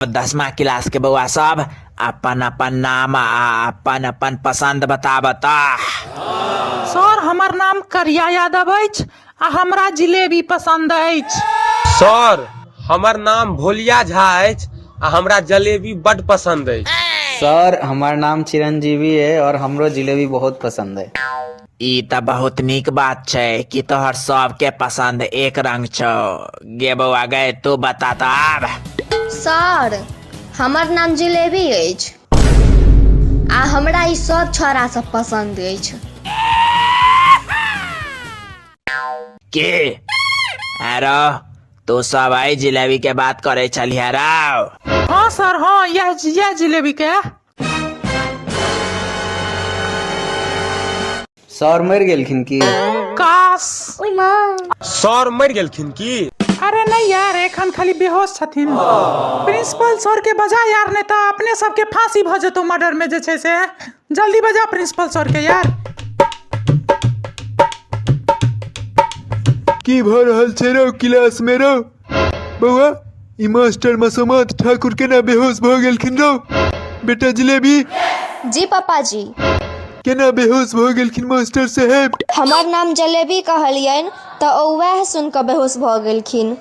दसमा क्लासके बौआ सब अपन अपन नाम आ अपन अपन पसन्द बताबऽ तऽ सर हमर नाम करिया यादव अछि आ हमरा जिलेबी पसन्द अछि सर हमर नाम भोलिया झा अछि आ हमरा जलेबी बड पसंद अछि सर हमर नाम चिरंजीवी है और हमरो जिलेबी बहुत पसंद है ई तऽ बहुत नीक बात छै कि तोहर सबके पसंद एक रंग छौ गे बौआ गे तू बता तऽ आब सर हमर नाम जिलेबी अछि आ हमरा ई सब छौड़ा सब पसंद अछि के आरो तू सब आई जिलेबी के बात करे छलिह राव हाँ सर हाँ यह यह जिलेबी के सर मरि गेलखिन की काश सर मरि गेलखिन की अरे नहीं यार एखन खाली बेहोश छथिन प्रिंसिपल सर के बजा यार नहीं तो अपने सबके फांसी भ जेतो मर्डर में जे छै से जल्दी बजा प्रिंसिपल सर के यार की भऽ रहल छै रौ क्लास मे रौ बौआ ई मास्टर मसोमत ठाकुर केना बेहोश भऽ गेलखिन रौ बेटा जिलेबी जी पापा जी केना बेहोश भऽ गेलखिन मास्टर साहेब हमर नाम जलेबी कहलियनि तऽ ओ वएह सुनि कऽ बेहोश भऽ गेलखिन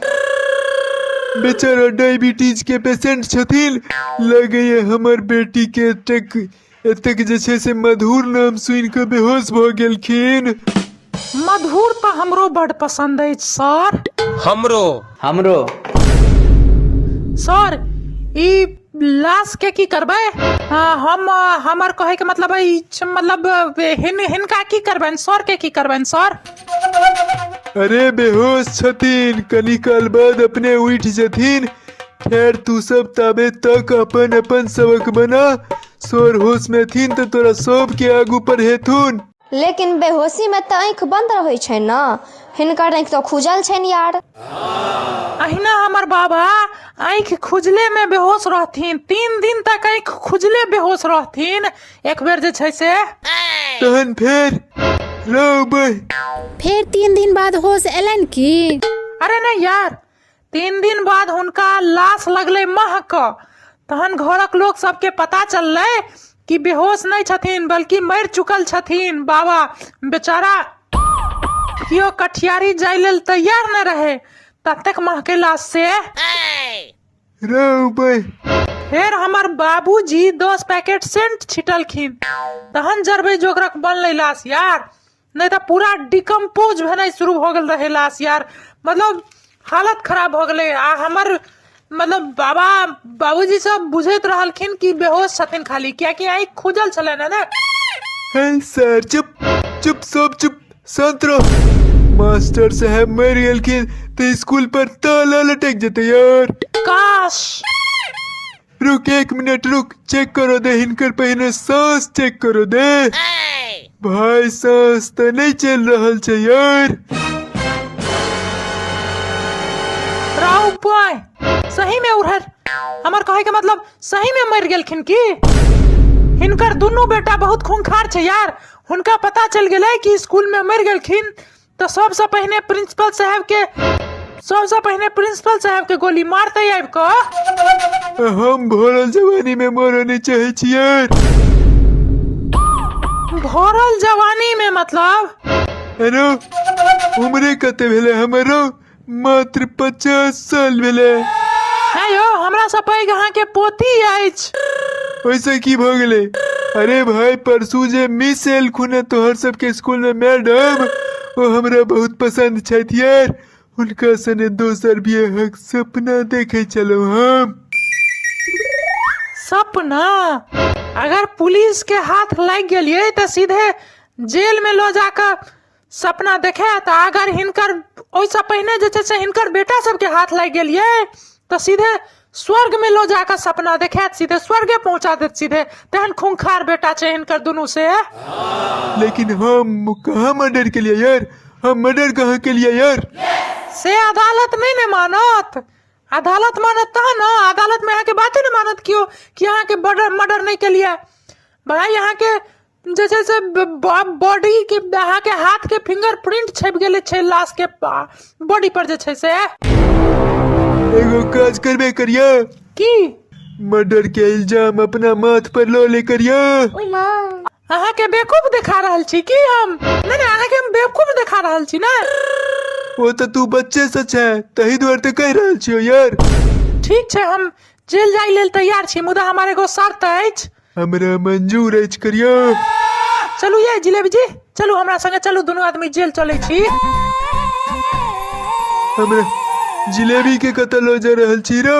बेचारा डायबिटीज के पेशेंट छथिन लगैया हमर बेटी के एतेक एतेक जे छै से मधुर नाम सुनि कऽ बेहोश भऽ गेलखिन मधुर तऽ हमरो बड पसन्द अछि सर हमरो हमरो सर ई लाश के की करबै आ, हम आ, हमर कहे के मतलब ई छ- मतलब आ, हिन, हिनका की करबनि सर के की करबनि सर अरे बेहोश छथिन कनी काल बाद अपने उठि जेथिन खैर तू सब ताबे तक अपन अपन सबक बना सोर होश में थीन तो तोरा सब के आगू पर हेथुन लेकिन बेहोशी में तऽ आँखि बन्द रहै छै ने हिनकर आँखि तऽ खुजल छनि यार अहिना हमर बाबा आँखि खुजले में बेहोश रहथिन तीन दिन तक आँखि खुजले बेहोश रहथिन एक बेर जे छै से तहन फेर रौ बह फेर तीन दिन बाद होश एलनि की अरे नहीं यार तीन दिन बाद हुनका लाश लगलै महक तहन घरक लोक सबके पता चललै कि बेहोश नहि छथिन बल्कि मरि चुकल छथिन बाबा बेचारा केओ कठियारी जाय लेल तैयार नहि रहै ततेक महके लाश से रे उबे फेर हमर बाबूजी दस पैकेट सेंट छिटलखिन तहन जरबै जोगरक बनलै लाश यार नहि तऽ पूरा डिकम्पोज भेनाइ शुरू भऽ गेल रहै लाश यार मतलब हालत खराब भऽ गेलै आ हमर मतलब बाबा बाबूजी सब बुझैत रहलखिन कि बेहोश छथिन खाली कियाकि आँखि खुजल छलनि है ने हे सर चुप चुप सब चुप शांत रहो मास्टर साहब मर गेलखिन तो स्कूल पर ताला लटक जते यार काश रुक एक मिनट रुक चेक करो दे हिनकर पहिने सांस चेक करो दे भाई सांस तो नहीं चल रहल छै यार राहु बॉय सही में उड़हर हमर कहे के मतलब सही में मर गेलखिन की हिनकर दुनू बेटा बहुत खूंखार छै यार हुनका पता चल गेलै कि स्कूल में मर गेलखिन तऽ सबसँ पहिने प्रिंसिपल साहब के सबसँ पहिने प्रिंसिपल साहब के गोली मारते आबि कऽ हम भरल जवानी में मरऽ नहीं चाहे छियै भरल जवानी में मतलब अरे उम्रे कते भेले हमरो मात्र पचास साल भेलै है यौ हमरा से पैघ अहाँके पोती अछि ओहिसँ की भऽ गेलै अरे भाय परसू जे मिस एलखुन हेँ तोहर सबके स्कूलमे मैडम ओ हमरा बहुत पसन्द छथि यार हुनका सने दोसर बियाहक सपना देखै छलहुँ हम सपना अगर पुलिस के हाथ लागि गेलियै तऽ सीधे जेल में लो जाकर सपना देखे तऽ अगर हिनकर ओहिसँ पहिने जे छै से हिनकर बेटा सबके हाथ लागि गेल ये तऽ सीधे स्वर्ग में लो जाकर सपना देखे सीधे स्वर्गे पहुंचा देत सीधे तेहन खूंखार बेटा छै हिनकर दुनू से लेकिन हम कहाँ मर्डर के लिए यार हम मर्डर कहाँ के लिए यार से अदालत नहीं ने मानत अदालत मानत तहन न अदालत में अहाँके बाते ने मानत कियो कि अहाँके मर्डर मर्डर नहीं के लिए भाई अहाँके जे छै से बॉडी के अहाँ के हाथ के फिंगर प्रिंट छपि गेल छै लाश के बॉडी पर जे छै से एगो काज करबे करिया की मर्डर के इल्जाम अपना माथ पर लो ले करिया ओए माँ अहाँ के बेवकूफ दिखा रहल छी की हम नहीं नहीं अहाँ के हम बेवकूफ दिखा रहल छी ना वो तो तू बच्चे से छै तही द्वार ते कह रहल छियो यार ठीक छै हम जेल जाय लेल तैयार छी मुदा हमारे एगो शर्त अछि हमरा मंजूर अछि करिया चलू ये जिलेबी जी चलू हमरा संगे चलू दुनू आदमी जेल चलै छी हमरा जिलेबी के कतऽ लऽ जा रहल छी रो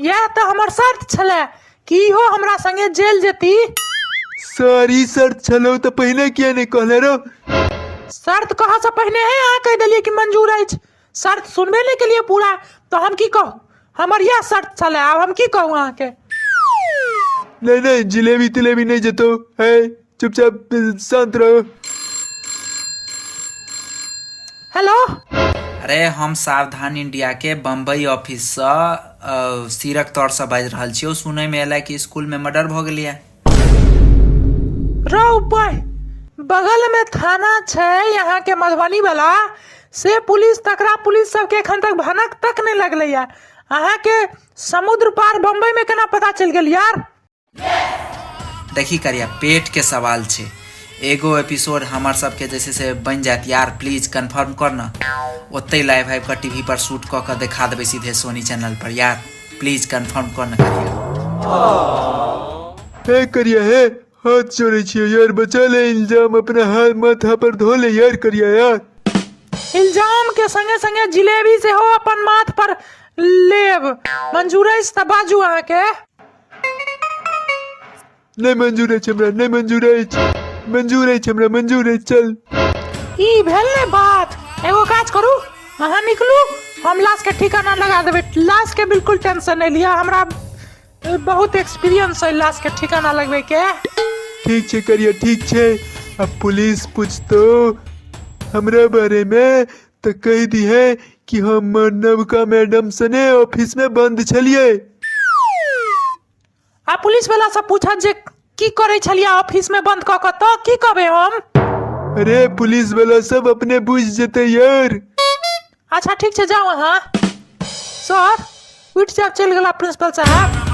यह तो हमर शर्त छले कि इहो हमरा संगे जेल जेती सारी शर्त छलौ तऽ पहिने किया नहि कहले रो शर्त कहऽ से पहिने हे अहाँ कहि देलियै कि मंजूर अछि शर्त सुनबे नहि केलिए पूरा तऽ हम की कहू हमर इएह शर्त छलै आब हम की कहू अहाँके नहीं नहीं जिलेबी तिलेबी नहीं जतो है चुपचाप अ, शांत रहो हेलो अरे हम सावधान इंडिया के बम्बई ऑफिस से अ, सीरक तौर से बाजि रहल छियौ सुनय में एला कि स्कूल में मर्डर भऽ गेलैया रौ बह बगल में थाना छै यहाँ के मधुबनी वाला से पुलिस तकरा पुलिस सबके एखन तक भनक तक नहीं लगले यार अहाँ के समुद्र पार बम्बई में केना पता चल गेल यार देखी करिया पेट के सवाल छै एगो एपिसोड हमर सबके जैसे से बन जात यार प्लीज कंफर्म कर न ओते लाइव आबि कऽ टीवी पर शूट कऽ कऽ देखा देबै सीधे सोनी चैनल पर यार प्लीज कंफर्म कऽ न करियो हे करिया हे हाथ जोड़े छियो यार बचा ले इल्जाम अपना हाथ माथा पर धो ले यार करिया यार इल्जाम के संगे संगे जिलेबी से हो अपन माथ पर लेब मंजूर अछि तऽ बाजू अहाँके नहीं मंजूर है हमरा नहीं मंजूर है मंजूर है हमरा मंजूर है चल ई भेल ने बात एगो काज करू अहाँ निकलू हम लाश के ठिकाना लगा देबै लाश के बिल्कुल टेंशन नहीं लिया हमरा अ, बहुत एक्सपीरियंस है लाश के ठिकाना लगबै के ठीक छे करिए ठीक छे अब पुलिस पूछतो हमरा बारे में तो कह दी है कि हम नवका मैडम सने ऑफिस में बंद छलिए आ पुलिस वाला सब पूछत जे की करे छलिया ऑफिस में बंद कऽ कऽ तऽ की कहबे हम अरे पुलिस वाला सब अपने बुझ जेते यार अच्छा ठीक छै जाओ अहाँ सर उठि जाओ चलि गेला प्रिंसिपल साहब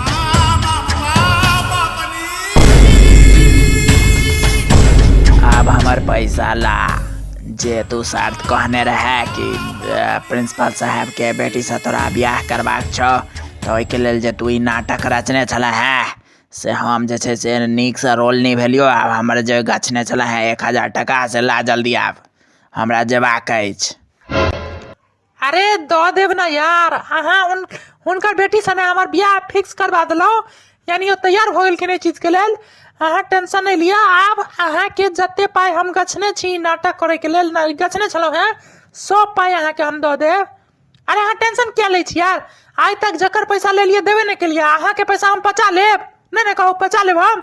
अब हमार पैसा ला जे तू शर्त कहने रहे कि अ, प्रिंसिपल साहब के बेटी से तोरा ब्याह करबाक छौ तऽ ओहिके लेल जे तू ई नाटक रचने छलऽ हेँ से हम जे छै से नीकसँ रोल निभेलियौ आ हमर जे गछने छलऽ हेँ एक हजार टाका से ला जल्दी आब हमरा जयबाक अछि अरे दऽ देब ने यार अहाँ उन हुनकर बेटी सने हमर बियाह फिक्स करबा देलहुँ यानि ओ तैयार भऽ गेलखिन एहि चीजके लेल अहाँ टेंशन नहि लिअ आब अहाँके जतेक पाइ हम गछने छी ई नाटक करैके लेल ने गछने छलहुँ हेँ सभ पाइ अहाँके हम दऽ देब अरे अहाँ टेंशन किया लै छी यार आइ तक जकर पैसा लेलियै देबे नहि केलियै अहाँके पैसा हम पचा लेब नहि नहि कहू पचा लेब हम